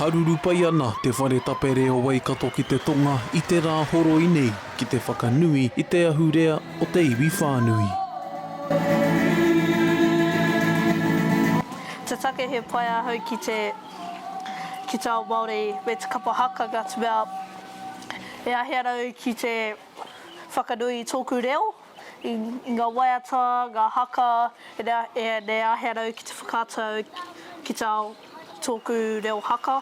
Haruru pai ana te whare tapere o Waikato ki te tonga i te rā horoi nei ki te whakanui i te ahurea o te iwi whānui. Te take he pai ahau ki te ki te ao Māori me te kapa haka ka te mea e ahi ana au ki te. Whakanui i tōku reo, i ngā waiata, ngā haka, e āhea rau ki te whakaata au ki te ao tōku reo haka.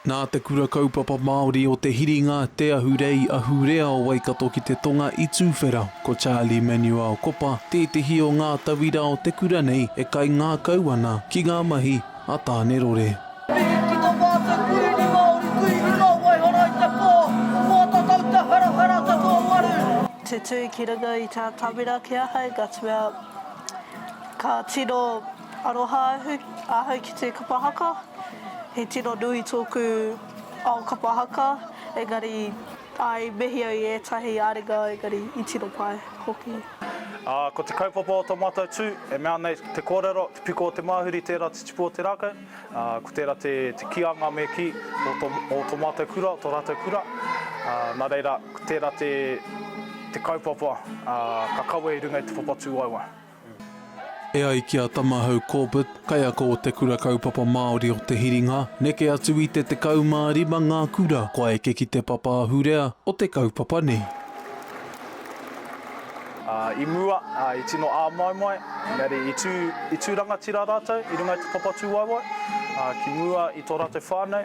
Nā Te Kura Kaupapa Māori o Te Hiringa, Te Ahurei, Ahurea o Waikato ki te tonga i Tūwhera, ko Charlie Manuel Kopa tētehi o ngā tauira o te kura nei e kaingākau ana ki ngā mahi, a Tānerore. Mihi ki to mātou Kurīni Māori kui runga o Waihora i te pō, mō to tauta harahara ta to waru. Tutui ki runga i tā Tawera ki ahau, Guttswell. Ka tino aroha ahau ki te kapa haka. He tino nui tōku ao kapa haka, engari, āe, i mehi au i ētahi āringa, engari, i tino pai hoki. Ā, ko te kaupapa o tō mātou tū, e mea ana i te kōrero, te piko o te māhuri tērā te tipu o te rākau, ā, ko tērā te, te kīanga me kī o tō, o tō mātou kura, o tō rātou kura, ā, nā reira, ko tērā te, te kaupapa, ā, ka kawe i runga i te papa tūwaewae. E ai ki a Tamahau Corbett, kaiako o Te Kura Kaupapa Māori o Te Hiringa, neke atu i te 15 ngā kura kua eke ki te papa ahurea o te kaupapa nei. I mua, i tino āmoemoe, engari i tū rangatira rātou i runga i te papa tūwaewae, ki mua i tō rātou whānau.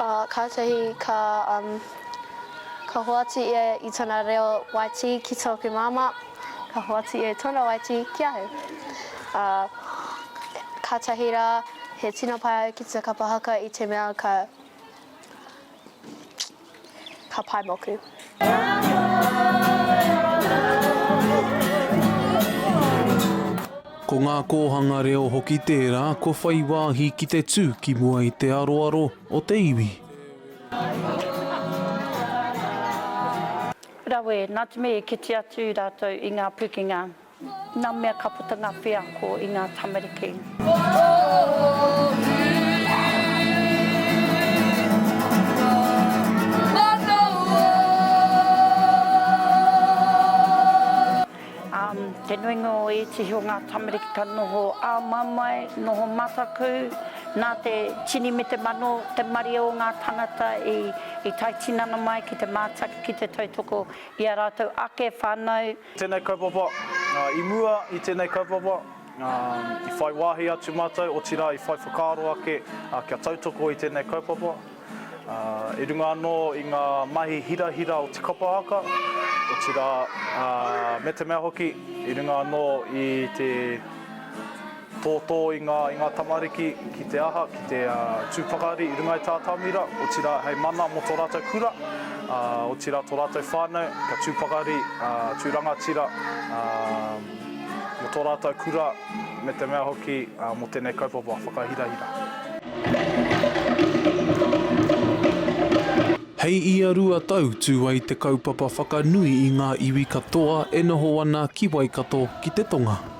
Ā, kātahi ka, um, ka hoatu ia i tōna reo Waitī ki tōku māmā, ka hoatu ia i tōna Waitī ki ahau. Ā, kātahi rā, he tino pai au ki te kapa haka i te mea ka, ka pai moku. Ko ngā kōhanga reo hoki tērā kua whai wāhi ki te tū ki mua i te aroaro o te iwi. Rawe, nā te mea i kite atu rātou i ngā pukenga. Nā mea ka puta ngā wheako i ngā tamariki. Te nuinga o ētehi o ngā tamariki ka noho ā-mamae, noho mataku, nā te tini me te mano te maria o ngā tangata i tae tinana mai ki te mātaki ki te tautoko i a rātou ake whānau. Tēnei kaupapa, i mua i tēnei kaupapa, i whai wāhi atu mātou, otirā i whai whakaaro ake kia tautoko i tēnei kaupapa. I runga anō i ngā mahi hirahira o te kapa haka, otirā me te mea hoki, i runga anō i te. Tōtō i ngā i ngā tamariki ki te aha, ki te tū pakari i runga i tā Tāmira, otirā hei mana mō tō rātou kura, otirā tō rātou whānau kia tū pakari, tū rangatira mō tō rātou kura me te mea hoki mō tēnei kaupapa whakahirahira. Hei ia rua tau tū ai te kaupapa whakanui i ngā iwi katoa e noho ana ki Waikato ki te tonga.